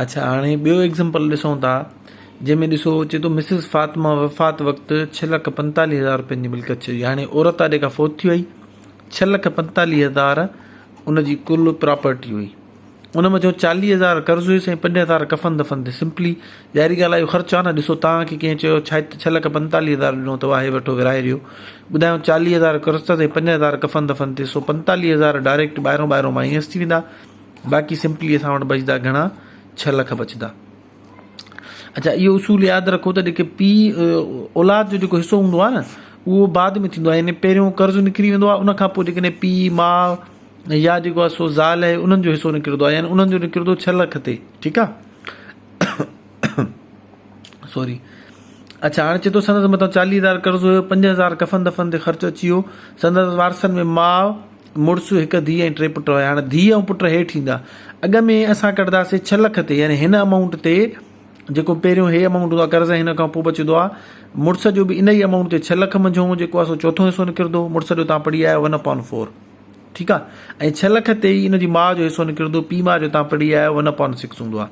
اڇا هاڻي ٻيو ايگزمپل ڏسون ٿا جنهن ۾ ڏسو چي ٿو مسز فاطمه وفات وقت ڇهه لک پنتاليهه هزار روپين جي ملڪيت چئي هاڻي عورت آ جيڪا فوت ٿي وئي ڇهه لک پنتاليهه هزار ان جي ڪل پراپرٽي هئي ان مان جو چاليهه هزار قرض هيس ۽ پنج هزار کفن دفن تي سمپلي ظاهري ڳالهه آهي خرچ آهي نه ڏسو توهان کي ڪنهن چيو ڇا ڇهه لک پنتاليهه هزار ڏنو اٿو آهي وٺو ورهائي ڏيو ٻڌايو چاليهه هزار قرض ۽ پنج هزار کفن دفن تي سو پنتاليهه هزار ڊائريڪٽ ٻاهرو ٻاهرو مائنس ٿي ويندا باقي سمپلي اسان وٽ بچدا گهڻا ڇهه لک بچدا. اڇا اهو اصول ياد رکو ته جيڪي پيء اولاد جو جيڪو حصو هوندو آهي نه اهو بعد ۾ ٿيندو آهي يعني پهريون قرض نڪري ويندو آهي ان کانپوء جيڪڏهن پيء ماء يا جيڪو آهي سو زال آهي انهن جو حصو نڪرندو آهي يعني انهن جو نڪرندو ڇهه لک تي ٺيڪ آهي سوري اڇا هاڻي چي ٿو سندس متان چاليهه هزار قرض هيو پنج هزار ڪفن دفن تي خرچ اچي ويو سندس وارثن ۾ ماء مڙس هڪ ڌيء ۽ ٽي پٽ هيا. هاڻ ڌيء ۽ پٽ هيٺ ايندا. اڳ ۾ اسان ڪڍداسين ڇهه لک تي يعني هن امائونٽ تي جيڪو پهريون هي امائونٽ هوندو آهي قرض ۽ هن کان پوء بچندو آهي مڙس جو به ان ئي امائونٽ تي ڇهه لک منجهون جيڪو آهي سو چوٿون حصو نڪردو مڙس جو تان پڙهي آيو ون اپان فور ٺيڪ آهي ۽ ڇهه لک تي ئي ان جي ماء جو حصو نڪردو پيء ماء جو تان پڙهي آيو ون اپان سڪس هوندو آهي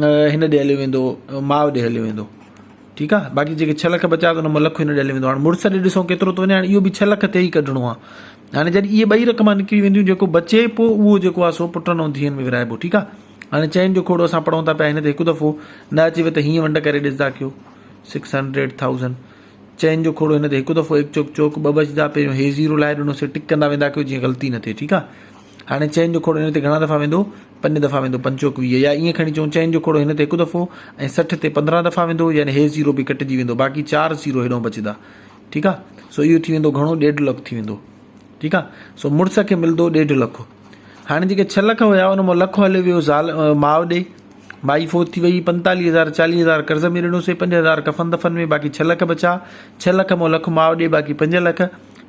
هن ڏي هليو ويندو ماء ڏي هليو ويندو ٺيڪ آ باقي جيڪي ڇهه لک بچا ٿو لک هن ڏي هليو ويندو هاڻي مڙس ڏي ڏسو ڪيترو ٿو وڃي هاڻي اهو به ڇهه لک تي ئي ڪڍڻو آ هاڻي جڏهن اهي ٻئي رقم نڪري وينديون جيڪو بچي پو اهو جيڪو آ سو پٽن ۽ ڌيئن ۾ ورهائبو ٺيڪ آ هاڻي چئن جو کوڙو اسان پڙهون ٿا پيا هن تي هڪ دفعو نه اچيو ته هيئن ونڊ ڪري ڏسدا ڪيو سڪس هنڊريڊ ٿائوزنڊ چئن جو کوڙو هن تي هڪ دفعو هڪ چوڪ چوڪ ٻه بچدا پهريون هي زيرو لائي ڏنوسي ٽڪ ڪندا ويندا ڪيو جيئن غلطي نه ٿئي ٺيڪ آ هاڻي چئن جو کوڙو هن تي گهڻا دفعا ويندو؟ پنج دفعا ويندو، پنج چوڪ ويهه، يا ائين کڻي چئون چئن جو کوڙو هن تي هڪ دفعو ۽ سٺ تي پندرهن دفعا ويندو، يعني هي زيرو به ڪٽجي ويندو، باقي چار زيرو هيڏانهن بچندا، ٺيڪ آ، سو اهو ٿي ويندو گهڻو ڏيڍ لک ٿي ويندو، ٺيڪ آ، سو مڙس کي ملندو ڏيڍ لک، هاڻي جيڪي ڇهه لک هيا ان مان لک هليو ويو زال ماء ڏي، مائي فوت ٿي وئي، پنتاليهه هزار چاليهه هزار قرض ۾ ڏنوسي، پنج هزار ڪفن دفن ۾، باقي ڇهه لک بچا، ڇهه لک مان لک ماء ڏي، باقي پنج لک،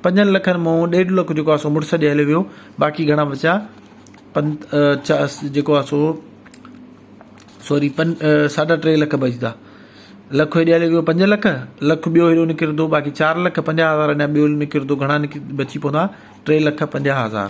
پنجن لکن مان ڏيڍ لک جيڪو آ سو مڙس ڏي هليو ويو باقي گهڻا بچيا پن چا جيڪو آ سو سوري پن ساڍا ٽي لک بچدا لک هيڏي هليو ويو پنج لک لک ٻيو هيڏو نڪرندو باقي چار لک پنجاهه هزار اڃا ٻيو نڪرندو گهڻا نڪ بچي پوندا ٽي لک پنجاهه هزار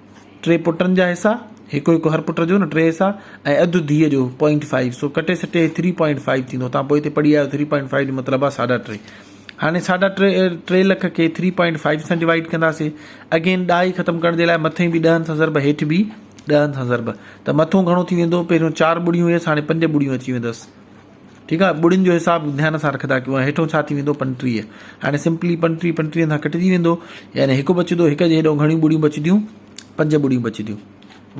ٽي پٽن جا حصا، هڪ هڪ هر پٽ جو نه ٽي حصا ۽ اڌ ڌيء جو، پوائنٽ فائيو، سو ڪٽي سٽي هي ٿري پوائنٽ فائيو ٿيندو، توهان پوء هتي پڙهي آيو ٿري پوائنٽ فائيو جو مطلب آهي ساڍا ٽي. هاڻي ساڍا ٽي ٽي لک کي ٿري پوائنٽ فائيو سان ڊوائيڊ ڪنداسين. اگين ڏهائي ختم ڪرڻ جي لاء مٿي به ڏهن سان ضرب هيٺ به ڏهن سان ضرب ته مٿون گهڻو ٿي ويندو، پهريون چار ٻڙيون هيس هاڻي پنج ٻڙيون اچي ويندس. ٺيڪ آهي ٻڙين جو حساب ڌيان سان رکندا ڪيون ۽ هيٺون ڇا ٿي ويندو پنٽيهه هاڻي سمپلي پنٽيهه پنٽيهن سان ڪٽجي ويندو يعني هڪ بچندو هڪ جي هيڏو گهڻيون ٻڙيون بچنديون پنج ٻڙيون بچنديون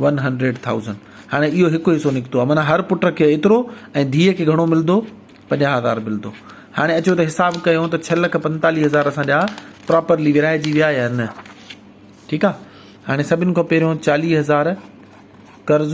ون هنڊريڊ ٿائوزنڊ هاڻي اهو هڪ حصو نڪتو آهي معنيٰ هر پٽ کي ايترو ۽ ڌيء کي گهڻو ملندو پنجاهه هزار ملندو هاڻي اچو ته حساب ڪيو ته ڇهه لک پنتاليهه هزار اسان جا پراپرلي ورهائجي ويا يا نه ٺيڪ آهي هاڻي سڀني کان پهريون چاليهه هزار قرض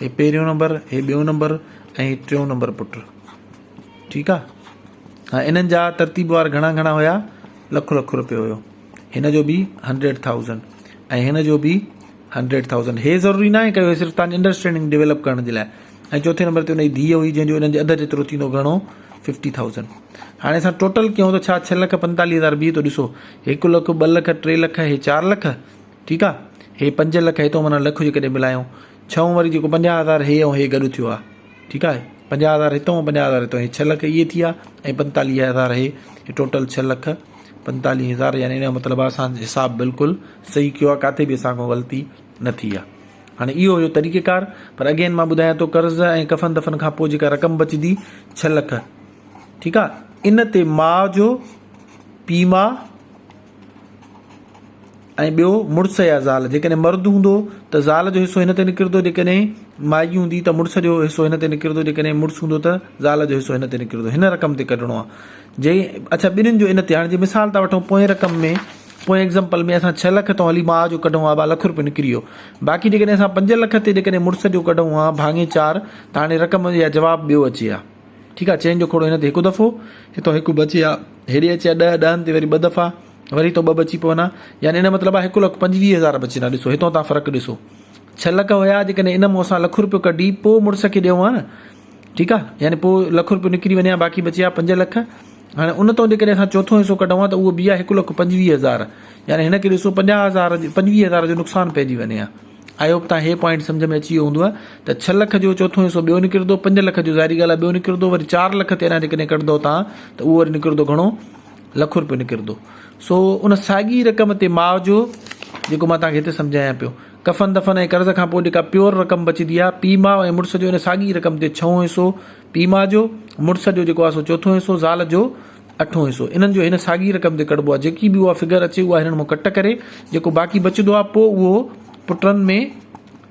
هي پهريون نمبر هي ٻيون نمبر ۽ هي ٽيون نمبر پٽ ٺيڪ آ ها انهن جا ترتيب وار گهڻا گهڻا هيا لک لک روپيو هيو هن جو به هنڊريڊ ٿائوزنڊ ۽ هن جو به هنڊريڊ ٿائوزنڊ هي ضروري ناهي ڪيو صرف تان انڊرسٽينڊنگ ڊيولپ ڪرڻ جي لاء ۽ چوٿين نمبر تي هن جي ڌيء هئي جنهن جو هنن جي اڌ جيترو ٿيندو گهڻو ففٽي ٿائوزنڊ هاڻي اسان ٽوٽل ڪيون ته ڇا ڇهه لک پنتاليهه هزار بيهي ٿو ڏسو هڪ لک ٻه لک ٽي لک هي چار لک ٺيڪ آ هي پنج لک هيتو معنيٰ لک جي ڪڏهن ملايون ڇهون وري جيڪو پنجاهه هزار هي ۽ هي گڏ ٿيو آ ٺيڪ آ پنجاهه هزار هتو ۽ پنجاهه هزار هتو هي ڇهه لک اهي ٿيا ۽ پنتاليهه هزار هي هي ٽوٽل ڇهه لک پنتاليهه هزار يعني ان جو مطلب آ اسان حساب بلڪل صحيح ڪيو آ ڪاٿي به اسان کان غلطي نه ٿي آ هاڻي اهو هيو طريقه ڪار پر اگين مان ٻڌايان ٿو قرض ۽ ڪفن دفن کان پوء جيڪا رقم بچدي ڇهه لک ٺيڪ آ ان تي ماء جو پي ماء ۽ ٻيو مڙس يا زال، جيڪڏهن مرد هوندو ته زال جو حصو هن تي نڪرندو، جيڪڏهن مائي هوندي ته مڙس جو حصو هن تي نڪرندو، جيڪڏهن مڙس هوندو ته زال جو حصو هن تي نڪرندو، هن رقم تي ڪڍڻو آهي جي اڇا ٻنهين جو ان تي هاڻي جي مثال ٿا وٺون پوئين رقم ۾ پوئين ايگزامپل ۾ اسان ڇهه لک تون هلي ماء جو ڪڍون ها ٻه لک روپيو نڪري ويو باقي جيڪڏهن اسان پنج لک تي جيڪڏهن مڙس جو ڪڍون ها ڀاڱي چار ته هاڻي رقم يا جواب ٻيو اچي ها. ٺيڪ آ چئن جو کوڙو هن تي هڪ دفعو هتو هڪ بچي آ هيڏي اچي آ ڏهه ڏهن تي وري ٻه دفعا وري هتو ٻه بچي پون آ يعني ان مطلب آ هڪ لک پنجويهه هزار بچين آ ڏسو هتو تان فرق ڏسو ڇهه لک هيا جيڪڏهن ان مون اسان لک روپيو ڪڍي پو مڙس کي ڏيون آ نه ٺيڪ آ يعني پو لک روپيو نڪري وڃي آ باقي بچي آ پنج لک هاڻي ان تو جيڪڏهن اسان چوٿون حصو ڪڍون آ ته اهو بي آ هڪ لک پنجويهه هزار يعني هن کي ڏسو پنجاهه هزار پنجويهه هزار جو نقصان پئجي وڃي آ آئي هوپ تان هي پوائنٽ سمجهه ۾ اچي ويو هوندوء ته ڇهه لک جو چوٿون حصو ٻيو نڪردو پنج لک جو ظاهري ڳالهه آهي ٻيو نڪردو وري چار لک تي اڃا جيڪڏهن ڪڍندو تان ته اهو وري نڪردو گهڻو لک روپيو نڪردو سو ان ساڳي رقم تي ماء جو جيڪو مان تان کي هتي سمجهايان پيو ڪفن دفن ۽ قرض کان پوء جيڪا پيور رقم بچدي آهي پي ماء ۽ مڙس جو ان ساڳي رقم تي ڇهون حصو پي ماء جو مڙس جو جيڪو آهي سو چوٿون حصو زال جو اٺون حصو انهن جو هن ساڳي رقم تي ڪڍبو آهي جيڪي به اها فگر اچي اها هنن مان ڪٽ ڪري جيڪو باقي بچندو آهي پوء اهو پٽن ۾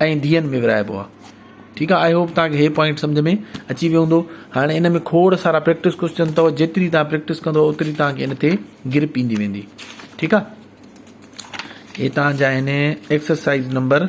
۽ ڌيئن ۾ ورهائبو آهي ٺيڪ آهي آئي هوپ توهان کي هي پوائنٽ سمجهه ۾ اچي ويو هوندو هاڻي ان ۾ کوڙ سارا پريڪٽس ڪوشچن اٿو جيتري توهان پريڪٽس ڪندو اوتري توهان کي ان تي گرپ ايندي ويندي ٺيڪ آهي هي توهان جا آهن ايڪسرسائز نمبر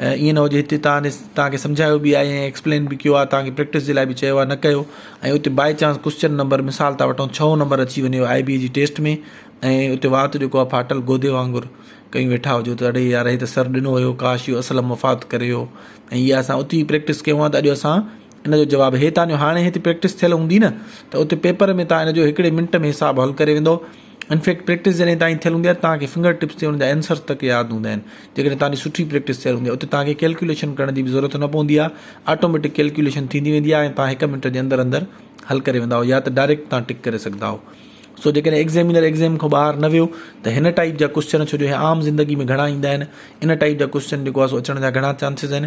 ۽ ائين نه هجي هتي توهان توهان کي سمجهايو به آهي ۽ ايڪسپلين به ڪيو آهي توهان کي پريڪٽس جي لاء به چيو آهي نه ڪيو ۽ اتي باء چانس ڪوسچن نمبر مثال ٿا وٺون ڇهون نمبر اچي وڃي آء بي جي ٽيسٽ ۾ ۽ اتي وات جيڪو آهي ڦاٽل گودي وانگر ڪيون ويٺا هجو ته اڙي يار هي ته سر ڏنو هيو ڪاش اهو اصل مفاد ڪري هيو ۽ اها اسان اتي پريڪٽس ڪيون آهي ته اڄ اسان ان جو جواب هي تان جو هاڻي هتي پريڪٽس ٿيل هوندي نه ته اتي پيپر ۾ تان ان جو هڪڙي منٽ ۾ حساب حل ڪري ويندو ان فيڪٽ پريڪٽس جڏهن توهان جي ٿيل هوندي آهي ته توهان کي فنگر ٽپس تي ان جا ائنسرز تڪ ياد هوندا آهن. جيڪڏهن توهان جي سٺي پريڪٽس ٿيل هوندي آهي اتي توهان کي ڪيلڪيوليشن ڪرڻ جي به ضرورت نه پوندي آهي آٽوميٽڪ ڪيلڪيوليشن ٿيندي ويندي آهي ۽ توهان هڪ منٽ جي اندر اندر حل ڪري ويندا آهيو يا ته ڊائريڪٽ توهان ٽڪ ڪري سگهندا آهيو سو جيڪڏهن ايگزيمينر ايگزيم کان ٻاهر نه ويو ته هن ٽائيپ جا ڪوشچن ڇو جو هي عام زندگي ۾ گهڻا ايندا آهن ان ٽائيپ جا ڪوشچن جيڪو آهي سو اچڻ جا گهڻا چانسز آهن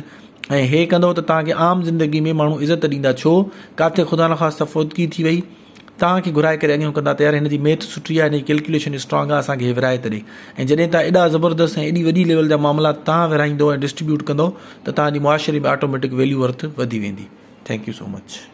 ۽ هي ڪندو ته توهان کي عام زندگي ۾ ماڻهو عزت ڏيندا ڇو ڪاٿي خدا نخواسته فوتگي ٿي وئي توهان کي گهرائي ڪري اڱيون ڪندا ته يار هن جي ميٿ سٺي آهي هن جي ڪلڪيوليشن اسٽرانگ آهي اسان کي هي ورهائي ته ڏي ۽ جڏهن توهان ايڏا زبردست ۽ ايڏي وڏي ليول جا معاملات توهان ورهائيندو ۽ ڊسٽريبيوٽ ڪندو ته توهان جي معاشري ۾ آٽوميٽڪ ويليو ورٿ وڌي ويندي ٿينڪ يو سو مچ.